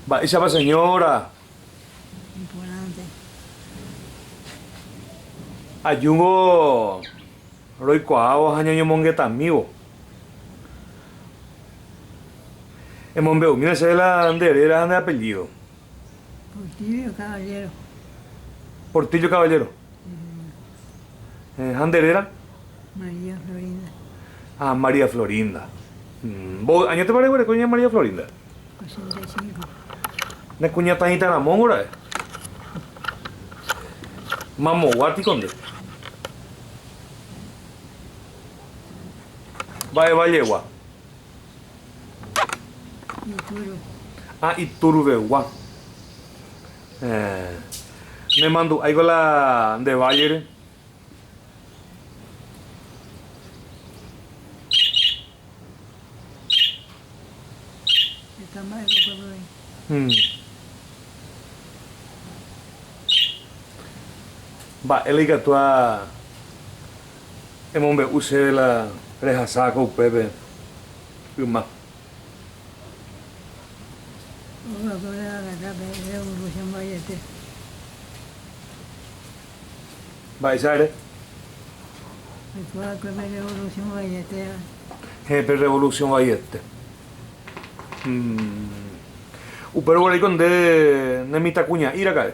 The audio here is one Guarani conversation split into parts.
Mba'éichapa señora ajúvo roikuaávo ha ñañomongetamívo. Emombe'umína chéve la nde réra ha nde apellído. Portillo Caballero. Portillo Caballero. Ha nde réra? María Florinda. Ah, María Florinda. Mbovy añetépa reguereko ña María Florinda? Ochenta y cinco. Ne kuñata hĩta ramóngo ra'e. Mamogua piko nde. Mba'e vallegua? Ituru. Ah, Ituru vegua. Héẽ. Nemandu'áiko la nde vállere. Heta mba'épa upépe oĩ. Uhm. Mba'e la ikatu ha emombe'u chéve la rehasa ko upépe yma. Mba'éicha ere? Héẽ, pe revolusiõ vaiete. Upéro guareko nde ne mitãkuña'i raka'e.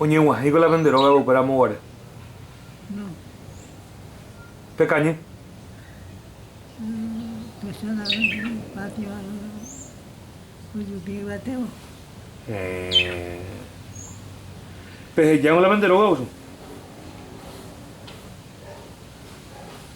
Oñeg̃uahẽiko la pende rógape upéra amoguare. Pekañy. Pehejángo la pende rógape.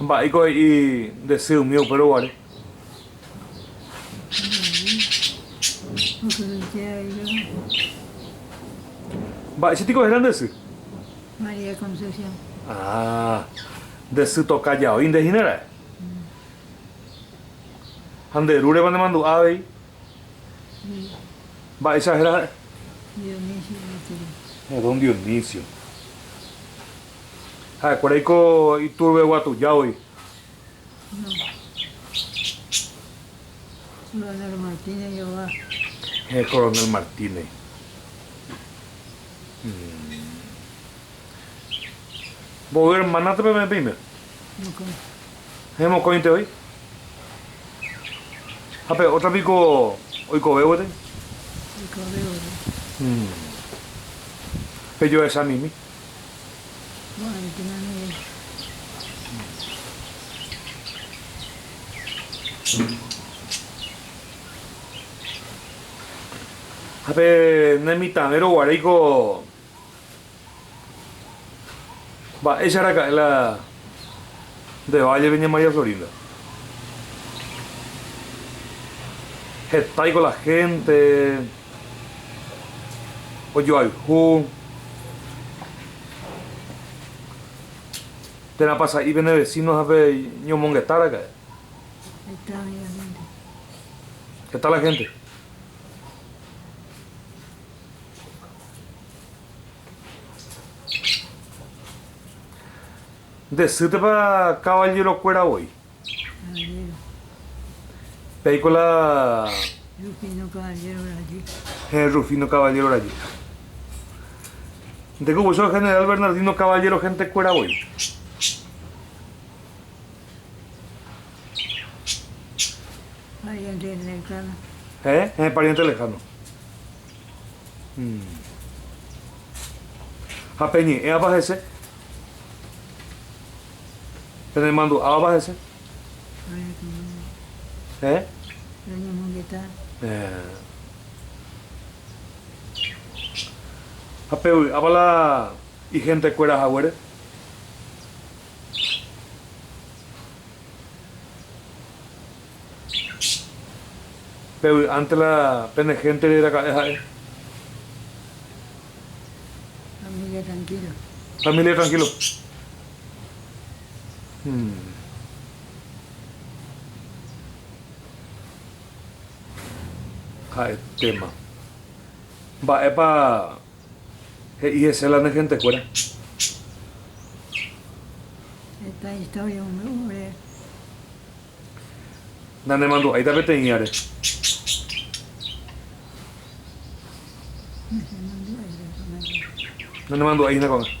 Mba'éiko he'i nde sy umi upéro guare? Mba'éicha piko héra nde sy? Ah, nde sy toka jao'i nde hína raẽ. Ha nde rúreva nemandu'a avei? Mba'éicha héra ha'e? Don Dionisio. Ha'ekuérai ko Iturbe Guatuja voi. Héẽ, Coronel Martínez. Mboy hermana-pe peime. Héẽ, mokõite oĩ. Ha pe ótra piko oikove gueteri? Oikove gueteri. Pejohechamimi. Ko'ãrupína ningo. Ha pe nemitãvérõ guaréiko. Mba'éicha araka'e la de Vallepe ña María Florinda? Hetaiko la hénte ojoayhu térãpa sa'i pene vesíno ha peñomongeta araka'e. Heta la hénte. Nde sýtepa kavallero kuéra voi. Peiko la. Rufino Caballero Rajy. He Rufino Caballero Rajy. Nde ku voicho general Bernardino Caballero gente kuéra voi. Pariente lejano. He, he pariente lejano. Ha peñe'ẽva hese? Penemandu'áva hese? Héẽ? Ha pevy'áva la ihentekuéra haguére? Pevy'ánte la pene héntere raka'e ha'e. Família trankílo. Família trankílo. Ha'etéma. Mba'épa he'i hese la ne hentekuéra? Heta istória omombe'u ore. Nanemandu'áita peteĩ áre. Nanemandu'ái hína ko'ág̃a.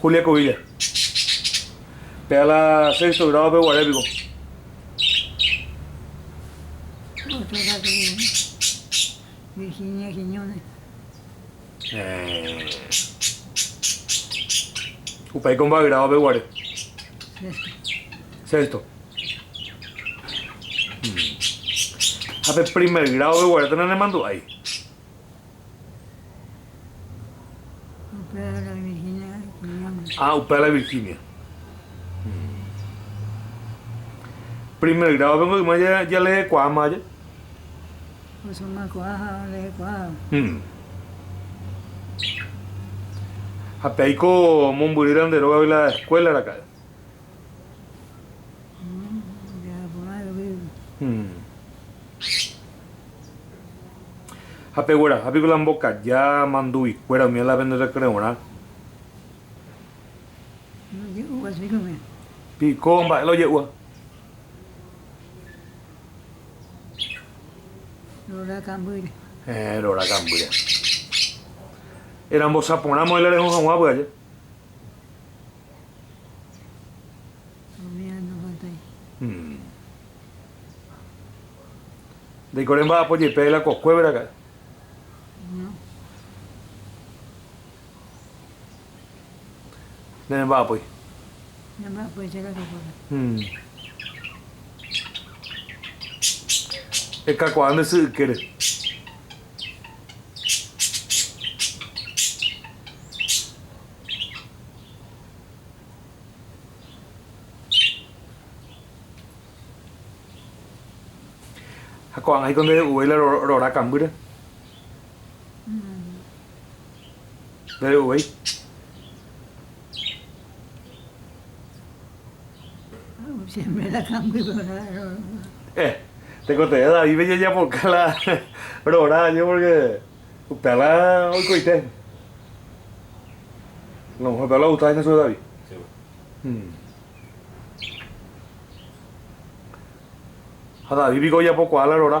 Julia Covilla. Pega la sexto grado pe guare piko. Virginia Quiñones. Upe aiko mba grado pe guare. Sexto. Ha pe primer grado peguarete nanemandu'ái. Upéva la Virginia kuñáme. Ah, upéva la Virginia. Primer grado pe yma jalehekuaáma aja. Osomakuaa ha olehekuaáva. Ha pe aiko mombyry rande rógape la escuela raka'e. Ha pegueraha piko la mbokaja mandu'ikuéra umi la penderekre'orã. Piko mba'e la oje'úva. Heẽ, rora kambýre. Erambosaporãmo'ãi la reho haguã py'aje. Ndaikore mba'apo jepe la kokuévera ka'i. Nde remba'apói. Nemba'apoicha la kokuévera. Ekakuaa nde sy ykére. Ha ko'ág̃a híko nde re'uvéi la rora kambýre. Nde re'uvéi. Tekotevẽ Davídpe jajapoka la rora año pórke upéva oikoite. La muhér upéva ogusta hína chupe David. Ha David piko ojapokuaa la rora.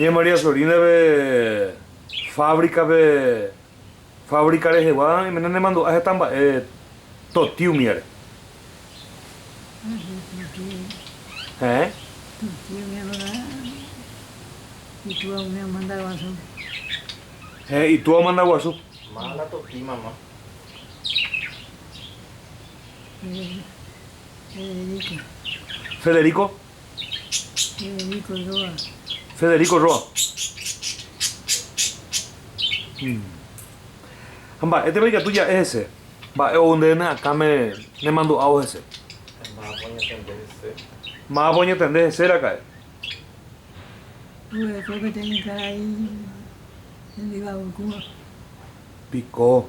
Ña María Sorina-pe fábrica-pe, fábrica rehegua iména nemandu'a heta mba'e toty umíare. Heẽ. Toty umíaguarã itúa umi omanda guasu. Heẽ, itúa omanda guasu. Mála toty mama. Federico. Federico. Federico Roa. Ha mba'étepa ikatu ja'e hese? Mba'e ou nde ne akãme nemandu'ávo hese? Mávapa oñetende hese? Mávapa oñetende hese raka'e? Oguereko peteĩ karai hembiguaykúva. Piko.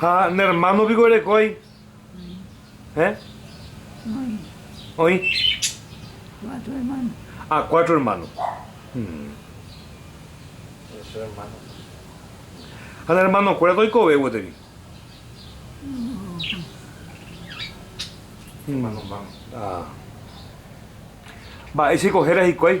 Ha ne hermano piko erekói? Héẽ? Oĩ. Oĩ? Cuatro hermanos. Ah, cuatro hermanos. Hmm. Ocho hermanos. Ha ne hermano kuéra toikove gueteri? Hermano man. Ah. Mba'éicha iko héra hikuái?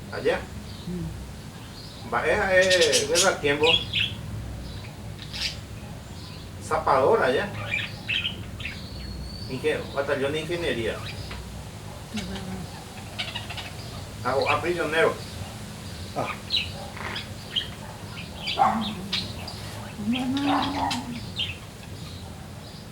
aja. Mba'e ha'e guerra tiempo zapador aja batallón de ingeniería ha ho'a prisionero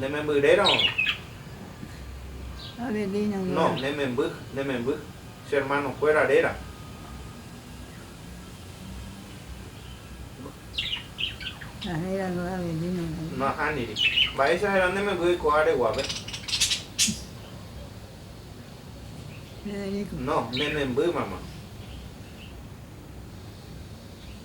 Ne memby réra oĩ. Adelina réra. No, ne memby, ne memby. Che hermano kuéra réra. Ha héra luego Adelina réra. No ahániri. Mba'éicha héra ne memby oiko áre guave. Federico. No, ne memby, mamá.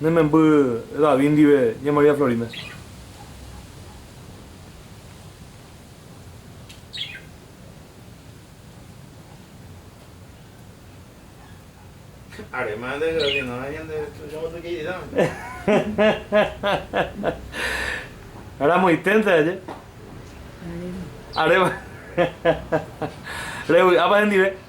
Ne memby David ndive ña María Florinda. Ramoiténte aje. Aréma. Revy'ápa hendive.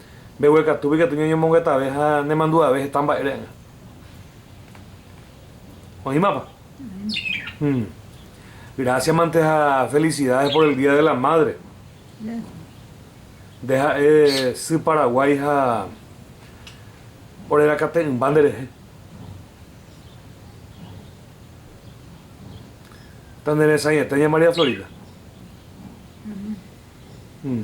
Mbeguekatúpe ikatu ñañomongetave ha nemandu'ave heta mba'e re'ẽrõ. Oĩmapa? Hmm. Gracias mante ha felicidades por el día de la madre. Nde ha'e sy Paraguái ha orerakate'ỹmba nderehe. Taneresãiete ña María Florita. Hmm.